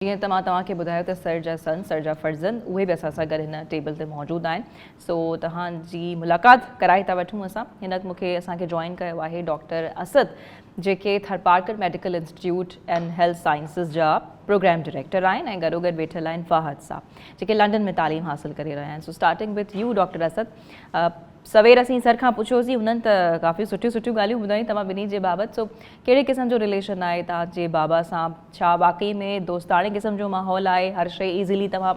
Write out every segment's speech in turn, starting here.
جيئن ته مان توهان کي ٻڌايو ته سر جا سن، سر جا فرزند، اهي به اسان سان گڏ هن ٽيبل تي موجود آهن، سو توهان جي ملاقات ڪرائي ٿا وٺون اسان. هن وقت مون کي اسان کي جوائن ڪيو آهي ڊاڪٽر اسد، جيڪي Tharparkar medical institute and health sciences جا پروگرام ڊائريڪٽر آهن ۽ گڏوگڏ ويٺل آهن فاهد صاحب، جيڪي لنڊن ۾ تعليم حاصل ڪري رهيا آهن. So starting with you doctor Asad, سوير اسين سر کان پڇيوسين، هنن ته ڪافي سٺيون سٺيون ڳالهيون ٻڌايون توهان ٻنهي جي بابت، سو ڪهڙي قسم جو رليشن آهي توهان جي بابا سان ڇا واقعي ۾ دوستاڻي قسم جو ماحول آهي هر شئي ايزلي توهان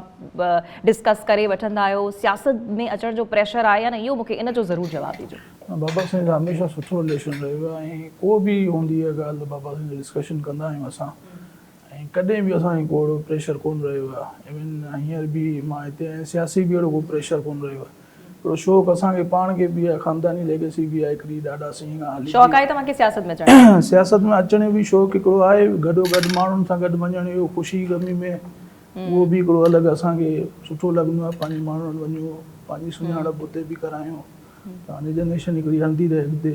ڊسڪس ڪري وٺندا آهيو سياست ۾ اچڻ جو پريشر آهي يا نه اهو مونکي ان جو ضرور جواب ڏيجو. بابا سائين سان هميشه سٺو رليشن رهيو آهي ۽ ڪو به هوندي آهي ڳالهه ته بابا سائين سان ڊسڪشن ڪندا آهيون اسان ۽ ڪڏهن به اسان کي ڪو اهڙو پريشر ڪونه رهيو آهي ايون هينئر به مان هتي آهيان سياسي به اهڙو ڪو پريشر ڪونه رهيو آهي. ھڪڙو شوق اسان کي پاڻ کي به آھي خانداني ليگسي به آھي ھڪڙي ڏاڏا سائين کان ھلي ٿي. شوق آھي توھان کي سياست ۾ اچڻ جو؟ سياست ۾ اچڻ جو به شوق ھڪڙو آھي گڏو گڏ ماڻھن سان گڏ وڃڻ جو خوشي غمي ۾ اھو به ھڪڙو الڳ اسان کي سٺو لڳندو آھي پنھنجي ماڻھن وٽ وڃون پنھنجي سڃاڻپ اتي به ڪرايون ته ھاڻي جنريشن ھڪڙي ھلندي رھي اڳتي.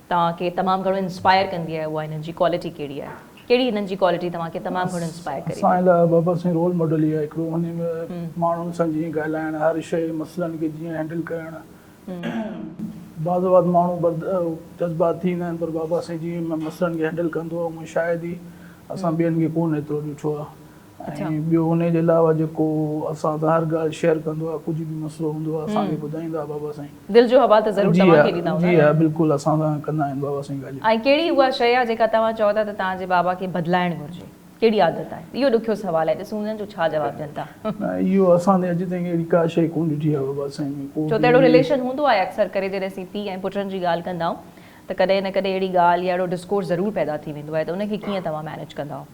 توهان کي تمام گهڻو انسپائر ڪندي آهي اها هنن جي ڪوالٽي ڪهڙي آهي ڪهڙي هنن جي ڪوالٽي توهان کي تمام گهڻو انسپائر ڪري ٿي. اسان لاء بابا سائين رول ماڊل ئي آهي هڪڙو انهي ۾ ماڻهن سان جيئن ڳالهائڻ هر شئي مسئلن کي جيئن هينڊل ڪرڻ بعض اوقات ماڻهو برد جذبات ٿي ويندا آهن پر بابا سائين جيئن مسئلن کي هينڊل ڪندو آهي اونئن شايد ئي اسان ٻين کي ڪونه ايترو ڏٺو آهي. اڇا. ۽ ٻيو انهي جي علاوه جيڪو اسان ظاهر ڳالهه شيئر ڪندو آهي ڪجهه به مسئلو هوندو آهي اسان کي ٻڌائيندا بابا سائين. دل جو حوال ته ضرور جي توهان کي ڏيندا ها هوندا جي ها بلڪل اسان سان ڪندا آهن بابا سائين ڳالهيون. ۽ ڪهڙي اها شيء آهي جيڪا توهان چئو ٿا ته توهان جي بابا کي بدلائڻ گهرجي ڪهڙي عادت آهي اهو ڏکيو سوال آهي ڏسون ٿا جو ڇا جواب ڏين ٿا. نه اهو اسان تي اڄ تائين اهڙي ڪا شيء ڪونه ڏٺي آهي بابا سائين ۾ ڪو ڇو ته اهڙو به. رليشن هوندو آهي اڪثر ڪري جڏهن اسين پيء ۽ پٽن جي ڳالهه ڪندا آهيون ته ڪڏهن نه ڪڏهن اهڙي ڳالهه يا اهڙو ڊسڪورس ضرور پيدا ٿي ويندو آهي ته ان کي ڪيئن توهان مينيج ڪندا آهيو.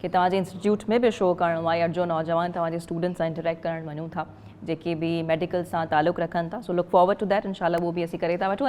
کي توهان جي انسٽيٽيوٽ ۾ به شو ڪرڻو آهي اڙ جو نوجوان توهان جي اسٽوڊنٽس سان انٽريڪٽ ڪرڻ وڃون ٿا جيڪي به ميڊيڪل سان تعلق رکن ٿا so look forward to that انشاء الله اهو به اسين ڪري ٿا وٺون